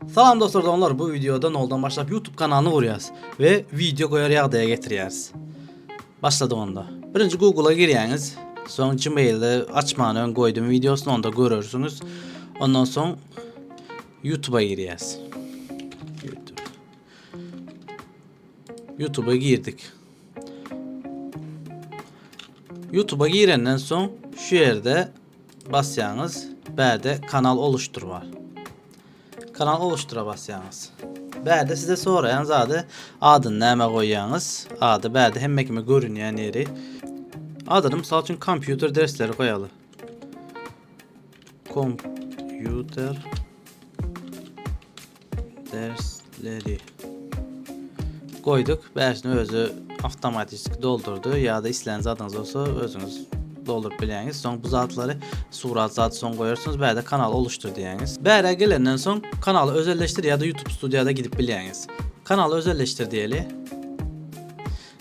Salam dostlar doňlar bu videoda noldan başlap YouTube kanalyny gurýas we video goýar ýagdaýa getirýäris. Başladyk onda. Birinji Google-a girýäňiz. Soň Gmail-de açman öň goýdum videosyny onda görersiňiz. Ondan soň YouTube-a girýäs. YouTube. YouTube-a girdik. YouTube-a girenden soň şu ýerde Basýaňyz. Bärde kanal oluşdyr bar. Kanal oluşdyra basýaňyz. Bärde size soraýan zady adyny näme goýýaňyz? Ady bärde hemme kime görünýän ýeri. Adyny mysal üçin kompýuter dersleri goýaly. Kompýuter Dersleri goýduk. Bäşini özi awtomatiki doldurdy. Ýa-da islän zadyňyz bolsa özüňiz doldurup bilýäňiz. Soň bu zatlary surat zat soň goýarsyňyz. Bärde kanal oluşdyr diýýäňiz. Bäre gelenden soň kanaly özelleşdir ýa-da YouTube Studio-da gidip bilýäňiz. Kanaly özelleşdir diýeli.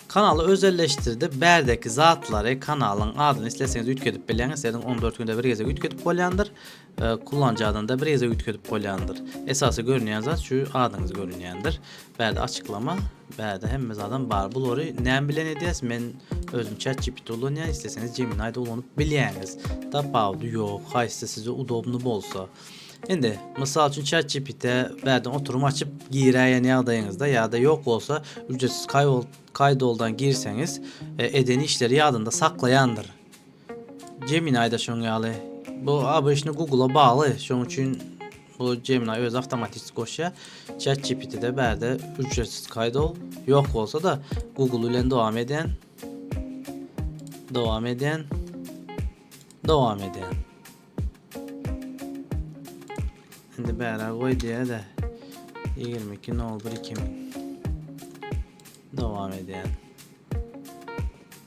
Kanaly özelleşdirdi. Bärdeki zatlary, kanalyň adyny isleseňiz üýtgedip bilýäňiz. Sizin 14 günde bir gezek üýtgedip bolýandyr. Kullanjy adynda bir gezek üýtgedip bolýandyr. Esasy görünýän zat şu adyňyz görünýändir. Bärde açyklama, bärde hemme zadam bar. Bulary näme bilen edýäs? Men özüm ChatGPT ulanýan, isleseňiz Gemini-de ulanyp bilýäňiz. Tapawudy ýok, haýsy size udobny bolsa. Indi, mysal üçin ChatGPT bärden oturum açyp giräýen ýagdaýyňyzda ýa-da ýok bolsa, ücretsiz kaýdoldan girseňiz, e, eden işleri ýadynda saklaýandyr. Gemini-da şoň ýaly. Bu obişni Google-a bagly, şoň üçin bu Gemini özi awtomatistik goşýar. ChatGPT-de bärde ücretsiz kaýda ol. Ýok bolsa-da, Google bilen dowam edýän. Dowam edýän. Dowam edýän. Indi bärä goý diýä-de. 22.01.2000. Dowam edýän.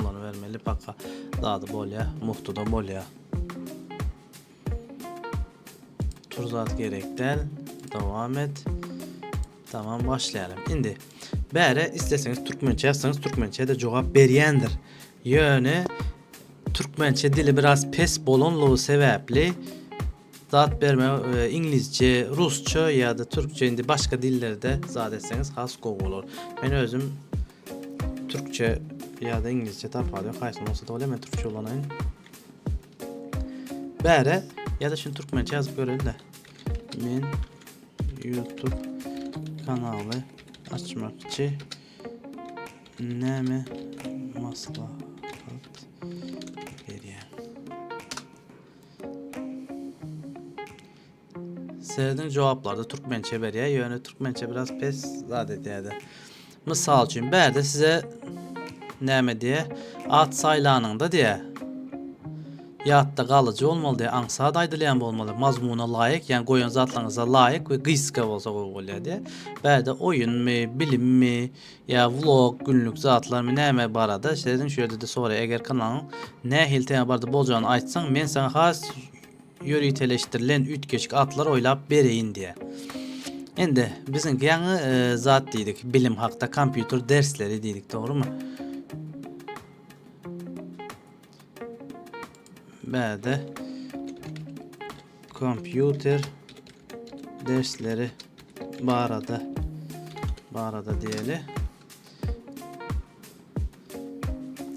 Ulanybermeli paka zady bolýa muftuda bolýa. Tur zat gerek däl. Dowam et. Tamam başlaýalym. Indi bäre isleseňiz türkmençe ýazsaňyz türkmençe-de jogap berýändir. Ýöne türkmençe dili biraz pes bolanlygy sebäpli Zat berme iňlisçe, rusça ýa-da türkçe indi başga dillerde zat etseňiz has gowy bolar. Men özüm türkçe ýa-da iňlisçe tapady ýok. Haýsyny bolsa-da bolýar, men türkçe ulanaýyn. Bäre ýa-da şuny türkmençe ýazyp göreli-de. Men YouTube kanaly açmakçy. Näme maslahat Sezin jogaplarda türkmençe berýär, ýöne türkmençe biraz pes zat edýärdi. Mysal üçin, bärde size näme diýär? At saýlanyňda diýär. Ýatda galyjy bolmaly diýär, aňsat aýdylýan bolmaly, mazmuna laýyk, ýagny goýan zatlaryňyza laýyk we gysga bolsa gowy bolýar diýär. Bärde oýunmy, bilimmi, Ýa vlog, günlük zatlarmy näme barada sezin şu ýerde-de soraý eger kanalyň nähili tema barada boljagyny aýtsaň men saňa has ýöriteleşdirilen üýtgeşik atlar oýlap bereýin diýä. Indi biziňki ýaňy e, zat diýdik bilim hakda kompýuter dersleri diýdik dogrymy? Bäde Kompýuter dersleri barada barada diýeli.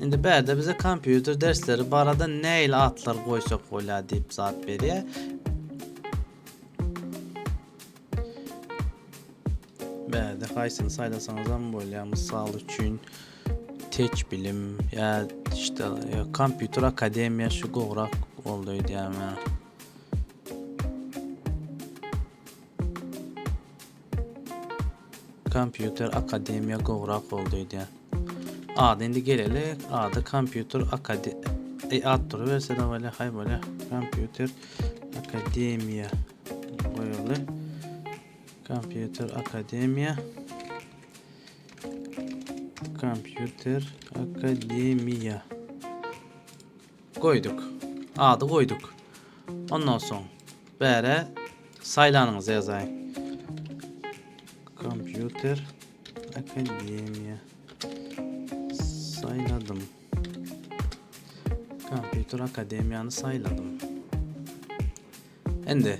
Indi bärde bize kompýuter dersleri barada näil atlar goýsak bolýar diýip zat berýär. Bärde haýsyny saýlasaňyzam bolýar, mysal üçin teç bilim ýa işte kompýuter akademiýa şu gowrak boldy öýdýärme. Kompýuter akademiýa gowrak boldy öýdýär. Ady indi gelelik, ady kompýuter akade e, at duruberse de bolýar, haý bolýar. Kompýuter akademiýa goýaly. Kompýuter akademiýa. Kompýuter akademiýa. Goýduk. Ady goýduk. Ondan soň bäre saýlanyňyzy ýazaýyň. Kompýuter akademiýa. Saýladym. Kompýuter akademiýany saýladym. Indi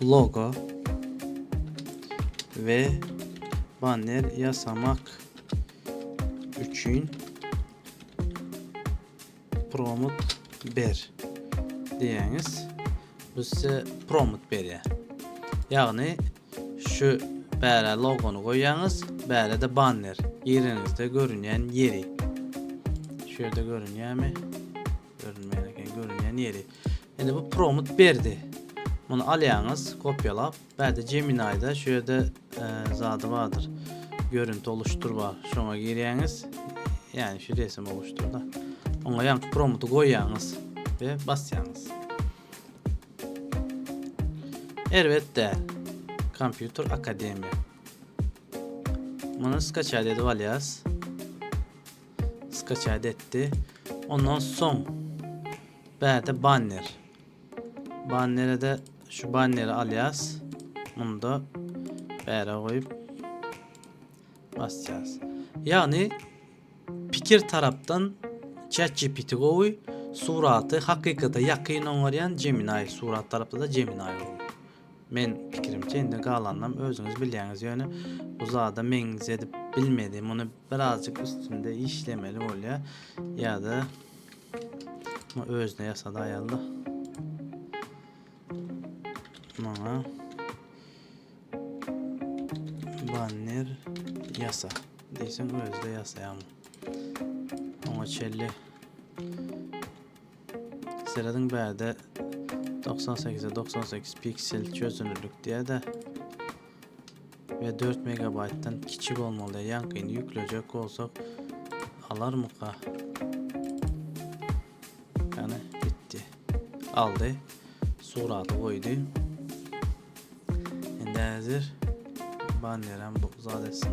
Logo we banner ýasamak üçin promot ber diýeňiz. Bu size promot berýär. Ýagny şu bäre logony goýýaňyz, bärede banner ýeriňizde görünýän ýeri. Şu ýerde görünýärmi? Görünmeýän eken, görünýän ýeri. Indi bu prompt berdi. Muny alýaňyz, kopýalap. Bärde Gemini-da şu ýerde e, zady bardyr. Görünti oluşdyr bar. Şoňa girýäňiz. Ýani şu resim oluşdurda. Oňa ýaňky prompty goýýaňyz we basýaňyz. Erbet däl. Kompýuter akademiýa. Muny skaçaýat edip alýas. Skaçat etdi. Ondan soň bärde banner. Bannere-de şu banneri alýas. Munda bäre goýup basýas. Ýagny pikir tarapdan ChatGPT gowy, suraty hakykata ýakyn oňarýan Gemini surat tarapda-da Gemini gowy. Men pikirimçe indi galanynam özüňiz bilýäňiz ýöne bu zada meňzedip bilmedi muny birazjyk üstünde işlemeli bolýar ýada özüne ýasady aýalda maňa banner yasa. Diýsem özde ýasaýam. Oňa çelli Serediň bärde doksan sekize doksan sekiz piksel çözünürlikdädä we dört megabaýtdan kiçi bolmalyda ýaňkyny ýüklejek bolsak alarmyka ýany gitdi aldy suraty goýdy indi häzir banneram bu zat etsin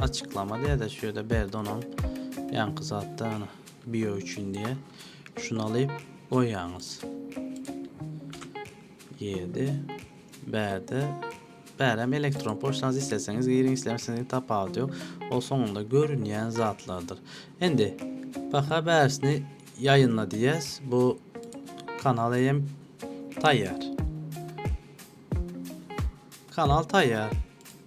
Açyklama diýede şu ýerde berdi onam ýaňky zatda ana bio üçin diýe şuny alyp goýýaňyz diýdi bärde bärem elektron poçtaňyz isleseňiz giriň islemeseňiz tapawudy ýok ol soňunda görünýän zatlardyr indi baka bärsini ýaýynla diýýäs bu kanal eýem taýýar kanal taýýar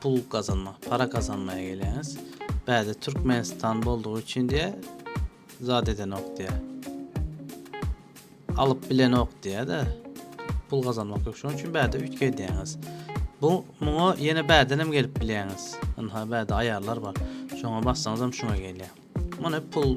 Pul gazanmak, para gazanmaýa gelýäňiz. Bäde Türkmenistan boldugy üçin diýä, zat edenok diýä. Alyp bilenok diýä-de. Pul gazanmak ýok. Şonuň üçin bäde üýtge edýäňiz. Bu muňa ýene bäden hem gelip bilýäňiz. Ynha bäde aýarlar bar. Şoňa bassaňyz hem şuňa gelýär. Muny pul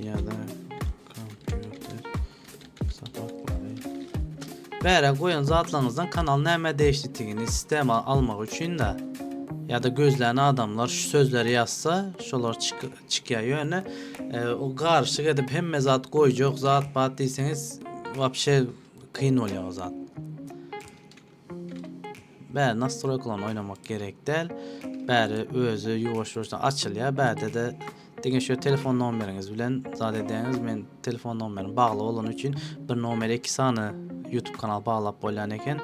Ýa-da kompýuter sapaklary. Bärä goýan zatlaryňyzdan kanal nämä degişlidigini sistema almak üçin-de ýa-da gözlän adamlar şu sözleri ýazsa, şolar çykýar. Ýöne e, o garyşyk edip hemme zat goýjak zat-pat diýseňiz, wapşe kyn bolýar o zat. Bä nastroýkalarny oýnamak gerek däl. Bäri özi ýuwaş-ýuwaşdan açylýar. Bärde-de diňe şu telefon nomeriňiz bilen zat edýäňiz. Men telefon nomerim bagly bolany üçin bir nomere iki sany YouTube kanal baglap bolýan eken.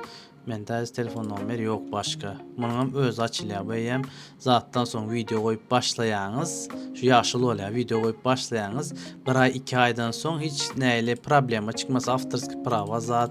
Mende häzir telefon nomeri ýok başga. Munuň hem özi açylýar. Bu eýýäm zatdan soň wideo goýup başlaýaňyz. Şu ýaşyl bolýar. Wideo goýup başlaýaňyz. Bir aý, iki aýdan soň hiç nähili problema çykmasa, awtorskiý prawa zat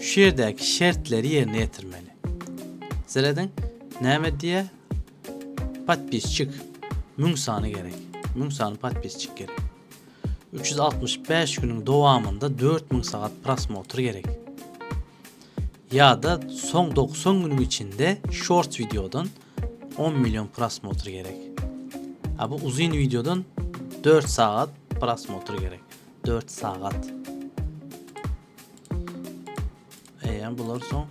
Şu ýerdäki şertleri ýerine ýetirmeli. Serediň, näme diýýär? Podpisçik müň sany gerek. Müň sany podpisçik gerek. 365 günüň dowamynda 4000 sagat prosmotr gerek. Ýa-da soň 90 günüň içinde shorts wideodan 10 million prosmotr gerek. A bu uzyn wideodan 4 sagat prosmotr gerek. 4 sagat. Eýýäm bular soň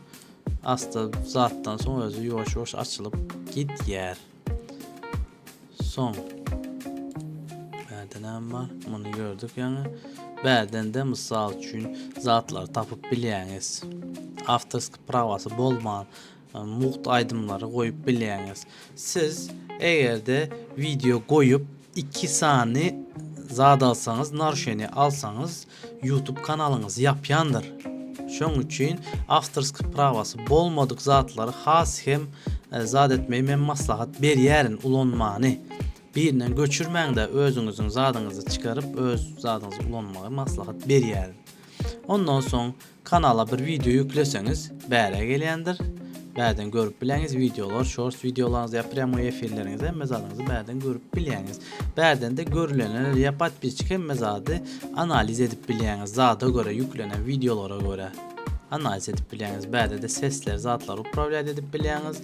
asty zatdan soň özi ýuwaş ýuwaş açylyp gidýär. Soň bärde näme bar? Muny gördük ýaňy. Bärden de mysal üçin zatlar tapyp bilýäňiz. Awtorski prawasy bolman Mugt aýdymlary goýup bilýäňiz. Siz egerde wideo goýup iki sany zat alsaňyz naruşeniýa alsaňyz ýutub kanalyňyzy ýapýandyr. Şoň üçin awtorski prawasy bolmadyk zatlary has hem zat etmeýi men maslahat berýärin ulanmany. Birinden göçürmäňdä özüňiziň zadyňyzy çykaryp öz zadyňyzy ulanmagy maslahat berýärin. Ondan soň kanala bir wideo ýükleseňiz bärä gelýändir. Bärden görüp bileňiz wideolar, shorts wideolaryňyzy ýa prýamoý efirleriňizi hemme zadyňyzy bärden görüp bilýäňiz. Bärdende görülenleri ýa podpisçik hemme zady analiz edip bilýäňiz. Zada görä ýüklenen wideolara görä analiz edip bilýäňiz. Bärde-de sesleri, zatlary uprawlýat edip bilýäňiz.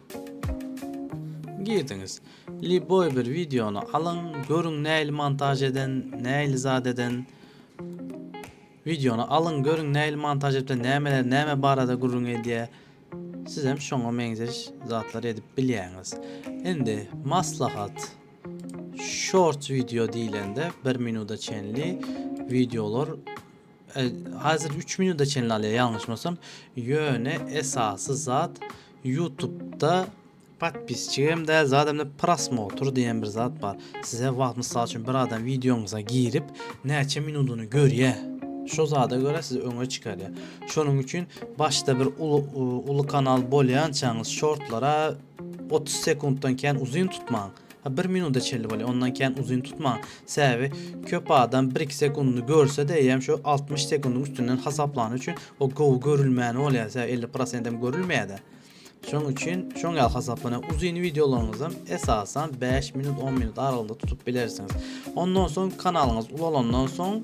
Girdiňiz. Liboý bir wideony alyň, görüň näili montaž eden, näili zat eden. Wideony alyň, görüň näili montaž edipdir, nämeler, näme barada gürrüň edýär. Siz hem şoňa meňzeş zatlar edip bilýäňiz. Indi maslahat short video diýlende 1 minuta çenli videolar e, hazir 3 minuta çenli alýar ýalňyşmasam. Ýöne esasy zat Ýutubda podpisçik hem däl, zat hem däl, prosmotr diýen bir zat bar. Size wagt, mysal üçin, bir adam wideoňyza girip, näçe minudyny görýär, şo zada görä sizi öňe çykarýar. Şonuň üçin başda bir uly, uly kanal bolýançaňyz, şortlara otuz sekuntdan kän uzyn tutmaň. Bir minuta çenli bolýar. Ondan kän uzyn tutmaň. Sebäbi köp adam 1-2 sekundy görse-de, eýýäm şu 60 sekundyň üstünden hasaplany üçin o gowy görülmäni bolýar. Sebäbi 50 prosent hem görülmeýär-de. Şoň üçin şoň ýaly hasaplanýar. Uzyn wideolaryňyzy hem esasan 5 minut, 10 minut aralygynda tutup bilersiňiz. Ondan soň kanalyňyz ulalandan soň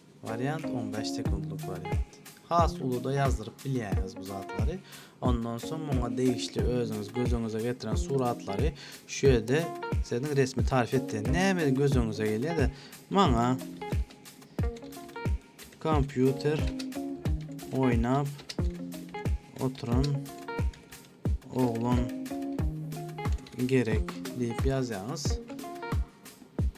Wariant on bäş sekuntlyk wariant. Has uluda ýazdyryp bilýäňiz bu zatlary. Ondan soň muňa degişli özüňiz göz öňüňize getiren suratlary şu ýerde siziň resmi tarif etdiň. Näme göz öňüňize gelýär-de, maňa kompýuter oýnap oturan oglan gerek diýip ýazýaňyz.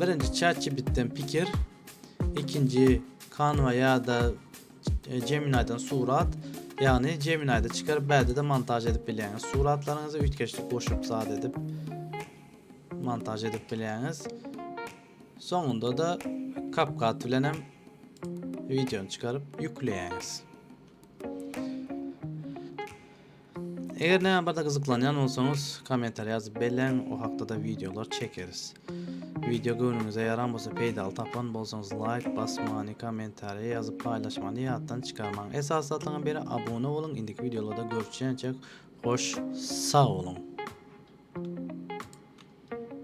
Birinji ChatGPT-den pikir, ikinji Canva ýa-da e, Gemini-den surat, ýagny Gemini-de çykaryp bärde-de montaž edip bilýäňiz. Suratlaryňyzy üýtgeşlik goşup zat edip montaž edip bilýäňiz. Soňunda da CapCut bilen hem videony çykaryp ýükleýäňiz. Eger näme barda gyzyklanýan bolsaňyz, kommentariýa ýazyp belläň, o hakda-da wideolar çekeris. Wideo göwnüňize ýaran bolsa, peýdaly tapan bolsaňyz, laýk basmany, kommentariýa ýazyp paýlaşmany ýatdan çykarmaň. Esasy zatyňam biri abuna boluň. Indiki wideolarda görüşýänçäk, hoş sag boluň.